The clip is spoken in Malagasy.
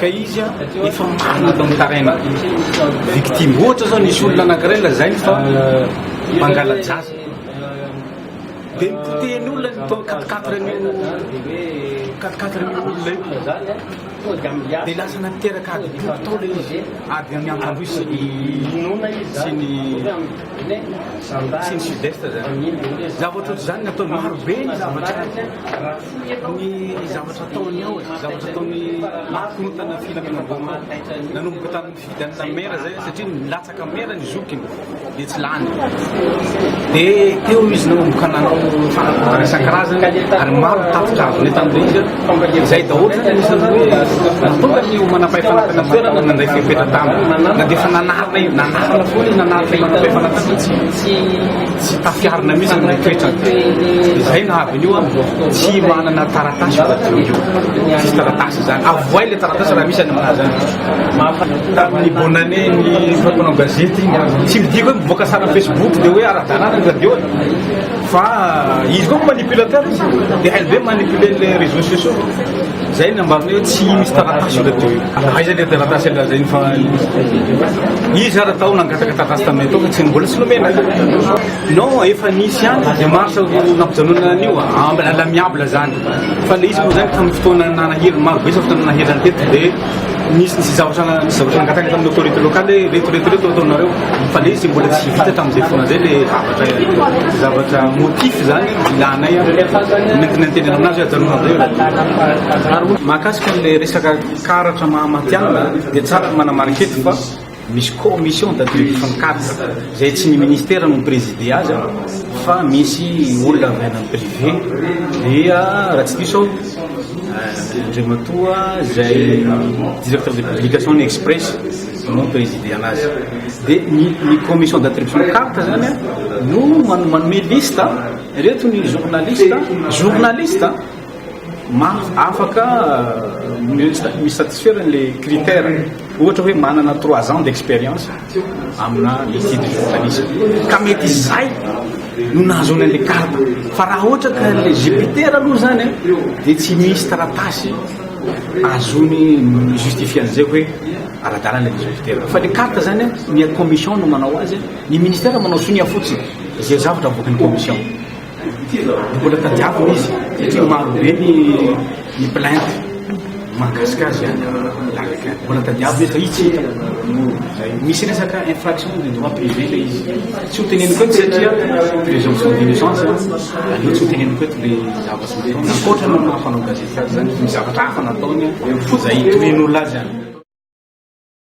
Ka izy efa manana ny taraina victime. Ohatra zao nisy olona anakiray lazainy fa mangala-jaza. Dia nipotehiny olona ny tao quatre quatre an'io quatre quatre an'io olona io. Dia lasa nateraka ady boky tao ilay izy. Ady amin'ny Ankandroy sy ny sy ny sy ny sud-est zany. Zavatra ohatr'izany ny ataony. Maro be ny zavatra. Ny zavatra ataony ao e, zavatra ataony korontana filaminana voamaly. Nanomboka tamin'ny fividianana maire zay satria nilatsaka maire ny zokiny dia tsy lany. Dia teo izy nanomboka nanao fanakorontana isan-karazany ary maro ny tatitra azony tamin'ilay izy an. Izay daholo zany anisan'ny hoe nahatonga ny manampahefana tany amin'ny toerana nandray fepetra taminy. Na dia efa nanarina, nanarina foana izy nanaritra ny manampahefana tany. Tsy tafiarina mihitsy ilay toetrany. Izay nahavy an'io an, tsy manana taratasy io radio io. Tsisy taratasy izany. Avohay ilay taratasy raha misy any aminà izany. Tamin'ny bonne année ny mpanao gazety iny an, tsy midika hoe mivoaka sary amin'ny Facebook dia hoe ara-dalàna ny radio e. Fa izy koa manipulateur izy. Dia hainy be mi-manipuler ilay réseaux sociaux. Zay ny ambarany hoe tsy misy taratasy io radio io. Aiza le taratasy ela zay fa izy ara tao nangataka taratasy taminay tao fa tsy mbola tsy nomena. Non efa nisy ihany démarche nampijanonana an'io à l'amiable zany. Fa le izy moa zany tamin'ny fotoana nanahiry maro be zany fotoana nanahiry an'i Teto dia nisy nisy zavatra nisy zavatra nangataka tamin'ny autorité locale hoe reto reto reto ataonareo fa le izy mbola tsy vita tamin'izay fotoana zay le zavatra motif zany ilanay nentina nitenenana aminazy ajanona velona ary mahakasika an'ilay resaka karatra maha matihanina dia tsara ny manamarika eto fa misy commission de direction karatra izay tsy ny ministera no mi-présider azy fa misy olona avy any amin'ny privé dia raha tsy diso aho andriamatoa izay directeur de publication ny express no presidena azy de ny ny commission d'attribution de carte zany a no man- manome liste a, ireto ny journaliste a, journaliste a, ma afaka euh, mi- sa- mi-satisfaire an'le critère ohatra hoe manana trois ans d'expérience amina métier de journaliste ka mety izay no nahazoana an'le carte fa raha ohatra ka le jupiter aloha zany a de tsy misy taratasy azony ny justifier an'izay hoe ara-dalana ilay greffe terrain fa le carte zany a ny commission no manao azy ny ministère manao sonia fotsiny izay zavatra avoakan'ny commission mbola tadiavina izy satria maro be ny ny plainte mahakasika azy a mbola tadiavina izy fa izy tsy hita misy resaka infraction de droit privé le izy tsy ho teneniko eto satria présomption d'innocence aleo tsy ho teneniko eto le zavatra ankoatra ny maha fanao gazety Misy zavatra hafa nataony, izay itohian'olona azy an.